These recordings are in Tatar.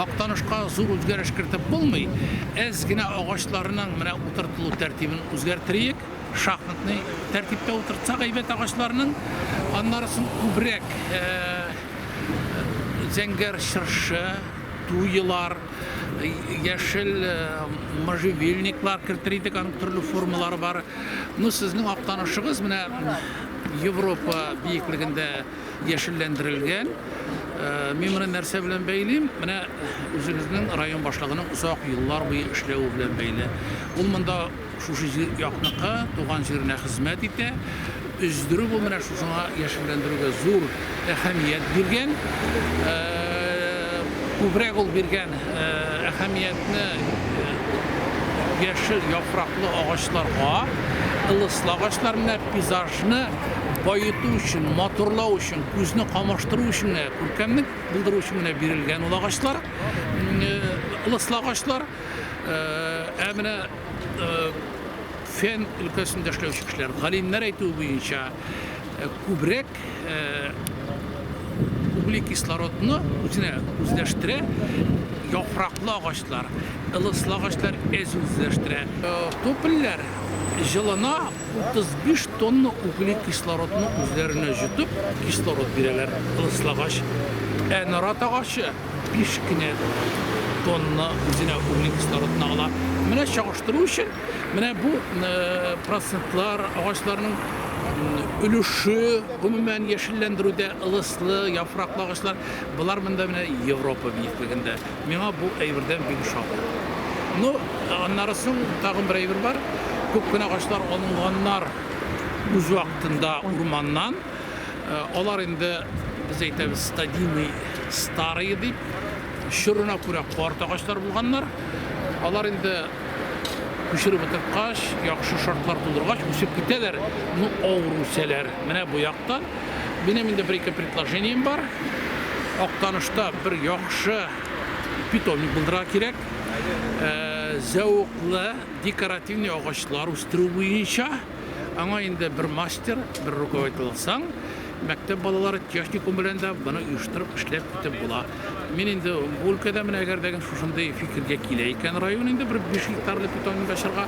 Актанышка зур үзгәреш кертеп булмый, әз генә агачларның менә утыртылу тәртибен үзгәртериек, шахматный тәртиптә утыртсак әйбәт агачларның, аннары соң күбрәк зәңгәр чыршы, туйлар, яшел можжевельниклар кертер идек, аның төрле формалары бар. Ну, сезнең актанышыгыз менә Европа биеклегендә яшелләндерелгән. Э, мин моны нәрсә белән бәйлим? Менә үзегезнең район башлыгының озак еллар буе эшләве белән бәйле. Ул монда шушы җир якныкы, туган җиренә хезмәт итә. Өздерү бу менә шушыңа яшелләндерүгә зур әһәмият биргән. Э, күбрәк ул биргән э, әһәмиятне яшел яфраклы агачларга, ылыслы агачлар менә пейзаж Шуны баету өчен, матурлау өчен, күзне камаштыру өчен генә, күркәмлек булдыру өчен генә бирелгән ул агачлар, ылыслы агачлар. Ә менә фән өлкәсендә эшләүче кешеләр, галимнәр әйтүе буенча, күбрәк углекислородны үзенә үзләштерә яфраклы агачлар, ылыслы агачлар әз үзләштерә. Топольләр җылына, 35 тонна угле кислородны үзләренә җотып, кислород бирәләр лыслагач. Ә нарат агачы 5 кенә тонна үзенә угле кислородны ала. Менә чагыштыру өчен, менә бу э, процентлар агачларның өлеше гомумән яшелләндерүдә ылыслы яфраклы агачлар болар монда менә европа биеклегендә Миңа бу әйбердән бик шат. Ну, аннары соң тагын бер әйбер бар. Күп кенә агачлар алынганнар үз вакытында урманнан. Алар инде, без әйтәбез, стадийный, старые дип, чорына күрә карт агачлар булганнар. Алар инде күчереп утырткач, яхшы шартлар булдыргач, үсеп китәләр, ну, авыр үсәләр. Менә бу яктан. Минем инде бер-ике предложением бар. Актанышта бер яхшы питомник булдырырга кирәк. Э, зәвыклы декоративный агачлар үстерү буенча аңа инде бер мастер, бер руководитель алсаң, мәктәп балалары техникум белән дә моны оештырып эшләп китеп була. Мин инде бу өлкәдә менә әгәр дә шушындый фикергә килә икән район инде бер 5 гектарлы питомник ачарга,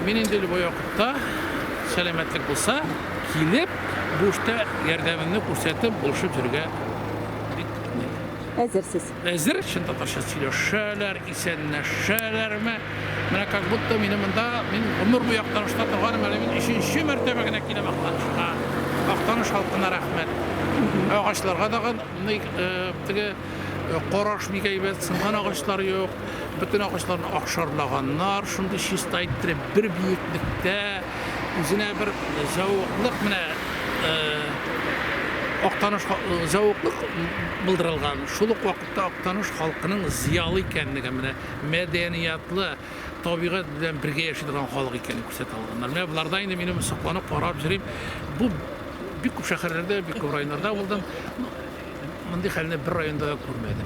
мин инде любой вакытта сәламәтлек булса, килеп, бу эштә ярдәмемне күрсәтеп, булышып йөрергә бик әзерсез. Әзер, чын татарча сөйләшәләр, исәнләшәләрме? Менә как будто мине монда мин гомер буе Актанышта торганым, әле мин өченче мәртәбә генә киләм Актанышка. Актаныш халкына рәхмәт. Агачларга дагы Ник теге караш бик әйбәт, сынган агачлар юк, бөтен агачларны акшарлаганнар, шундый чиста иттереп, бер биеклектә, үзенә бер зәвыклык менә Актаныш зәвыклык булдырылган. Шул ук вакытта Актаныш халкының зиялы икәнлеге менә мәдәниятлы, табигать белән бергә яши торган халык икәнен күрсәтә алганнар. Менә боларда инде минем сокланып карап йөрим. Бу бик күп шәһәрләрдә, бик күп районнарда булдым. Мондый хәлне бер районда да күрмәдем.